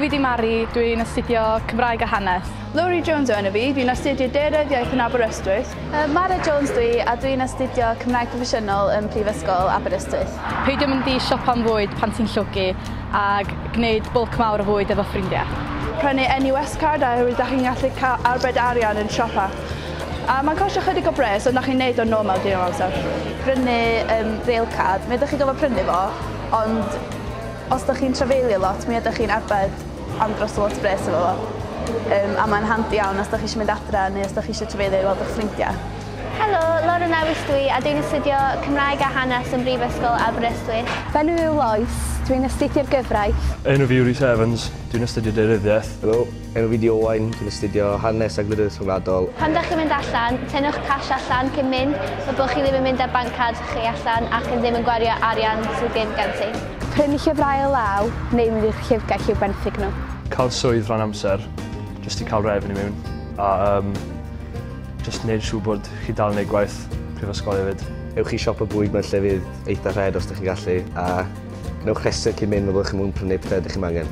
fi di Mari, dwi'n astudio Cymraeg a Hanes. Lowri Jones o enw fi, dwi'n astudio Deiredd Iaith yn Aberystwyth. Uh, Mara Jones dwi a dwi'n astudio Cymraeg Proffesiynol yn Prifysgol Aberystwyth. Peidio mynd i siop am fwyd pan ti'n llwgu. a gwneud bwlc mawr o fwyd efo ffrindiau. Prynu NUS Card oherwydd da chi'n gallu cael arbed arian yn siopa. A mae'n costio chydig o bres ond da chi'n neud o'n normal digon o amser. Prynu um, Rail Card, mi ydych chi'n gofod prynu fo, ond os da chi'n trafeilio lot mi ydych chi'n arbed am dros lot o bres efo fo. Um, a mae'n handi iawn os da chi eisiau mynd adra neu os da chi eisiau trafeilio i weld eich ffrindiau. Helo, Lauren Lewis dw i a dwi'n astudio Cymraeg a Hanes ym Mhrifysgol Aberystwyth. Fy enw i yw Lois, dw i'n astudio'r gyfraith. Enw fi yw Rhys Evans, dw i'n astudio Deiryddiaeth. Helo, enw fi di Owain, dwi'n astudio Hanes a Gwleidyddiaeth Rhyngwladol. Pan dach chi'n mynd allan, tynnwch cash allan cyn mynd fel bod chi ddim yn mynd â banc card chi allan ac yn ddim yn gwario arian sydd ddim gen ti. Prynu llyfrau o law neu mynd i'r llyfrgell i'w benthyg nhw. Cael swydd rhan amser, jyst i cael revenue mewn a yym Jyst neud siŵr bod chi dal yn neud gwaith prifysgol efyd. Ewch i siop y bwyd mae'r llefydd eitha rhed os dych chi'n gallu a newch rhestr cyn mynd fel bod chi'n mwyn prynu pethau ydych chi'n angen.